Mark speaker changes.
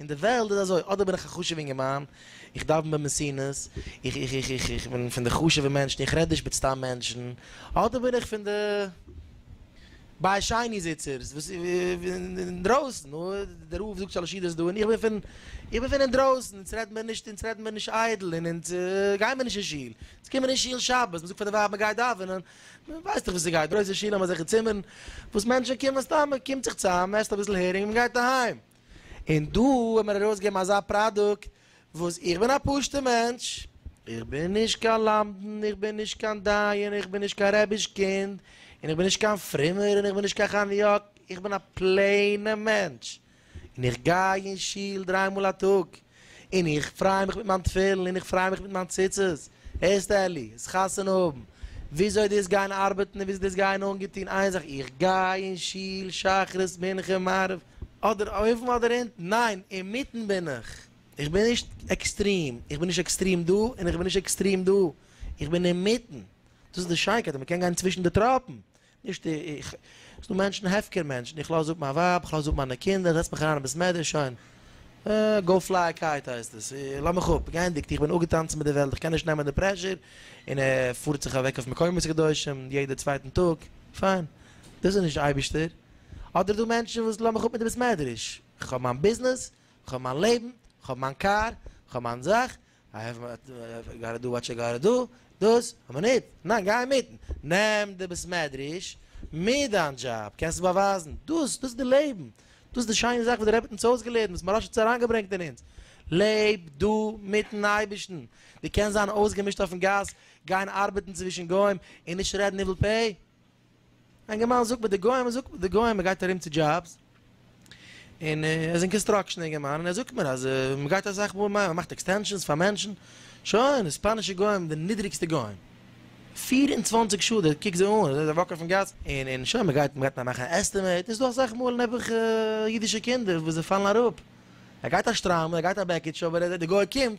Speaker 1: אין די וועלט איז אזוי, אדער בין איך א חשוב'ע אינגערמאן, איך דאוון במסינו'ס, איך איך איך איך איך בין פון די חשוב'ע מענטשן, איך רעד נישט מיט סתם מענטשן, אדער בין איך פון די ביי שיינע זיצערס וואס אינדרויסן, דער רב זאגט שלש ידות דא און איך בין פון איך בין פון אינדרויסן, אונז רעדט מען נישט אונז רעדט מען נישט איידל און אונז גייען מיר נישט אין שול, אונז קומען אין שול שבת, מען זאגט פאר די ווייב מען גייט דאווענען, מען ווייסט דאך ווי ס'גייט, גרויסע שולן אזעלכע צימערן וואס מענטשן קומען סתם, מען קומט זיך צוזאם, מען עסט אביסל הערינג און מען גייט אהיים. און דא האט מען ארויסגעגעבן אזא פראדוקט וואס איך בין א פשוטע מענטש, איך בין נישט קיין למדן, איך בין נישט קיין דיין, איך בין נישט קיין רבי'ש קינד, און איך בין נישט קיין פרומער, און איך בין נישט קיין חניאק, איך בין א פלעינע מענטש, און איך גיי אין שול דריי מאל א טאג, און איך פריי מיך מיט מיין תפילין און איך פריי מיך מיט מיין ציצית, הערסט אלי, עס חתונה האבן, וויאזוי דאס גיין ארבעטן און וויאזוי דאס גיין אנגעטון, איין זאך איך גיי אין שול שחרית מנחה מעריב, אדער אויבן אדער אונטן, ניין, אינמיטן בין איך, איך בין נישט עקסטרים, איך בין נישט עקסטרים דא און איך בין נישט עקסטרים דא, איך בין אינמיטן, דאס איז די שיינקייט אז מען קען גיין צווישן די טראפן, נישט איך, ס'איז דא מענטשן, הפקר מענטשן, איך לאז אפ מיין ווייב, איך לאז אפ מיינע קינדער, איך זעץ מיך אריין אין בית מדרש, שוין. גאו פליי א קייט הייסט עס, לאז מיך אפ, גייענדיגט, איך בין אפגעטאנצן מיט די וועלט, איך קען נישט נעמען די פרעשור, און ער פארט זיך אוועק אויף מקומות קדושים יעדע צווייטן טאג, פיין, דאס איז נישט אייבישטער. אדער דא מענטשן וואס לאז מיך אפ מיט די בית מדרש, איך האב מיין ביזנעס, איך האב מיין לעבן, איך האב מיין קאר, איך האב מיין זאך, א העפט וואט יו גאטא דו וואט יו גאטא דו, דאס האט מען ניט, ניין גיי אינמיטן, נעם די בית מדרש מיט דיין דזשאב, קענסט עס באווייזן, דאס דאס איז די לעבן, דאס איז די שיינע זאך וואס דער רבי האט אונז אויסגעלערנט, וואס מוהראש האט אונז אריינגעברענגט אין אונז, לעב דו מיטן אייבערשטן, דו קענסט זיין אויסגעמישט אויפן גאס, גיין ארבעטן צווישן גוים און נישט רעדן ניבול פה? אינגערמאן זאגט מיט די גוים, ער זאגט מיט די גוים, ער גייט ארום צו דזשאבס, און ער איז אין קאנסטראקשן אינגערמאן, און ער זאגט מיר אז מען גייט אסאך מאל, מען מאכט עקסטענשאנס פאר מענטשן, שוין, די ספאנישע גוים, די נידריגסטע גוים, פֿיר און צוואַנציק שעה, די קוק זיי אן, זיי וואקן אויפן גאס, און שוין, מען גייט נאר מאכן א עסטימעיט, און ס'איז דא אסאך מאל נעבעך אידישע קינדער וואס זיי פאלן אראפ, ער גייט א שטריימל, ער גייט א בעקיטש, אבער ער זעט די גוי קומט,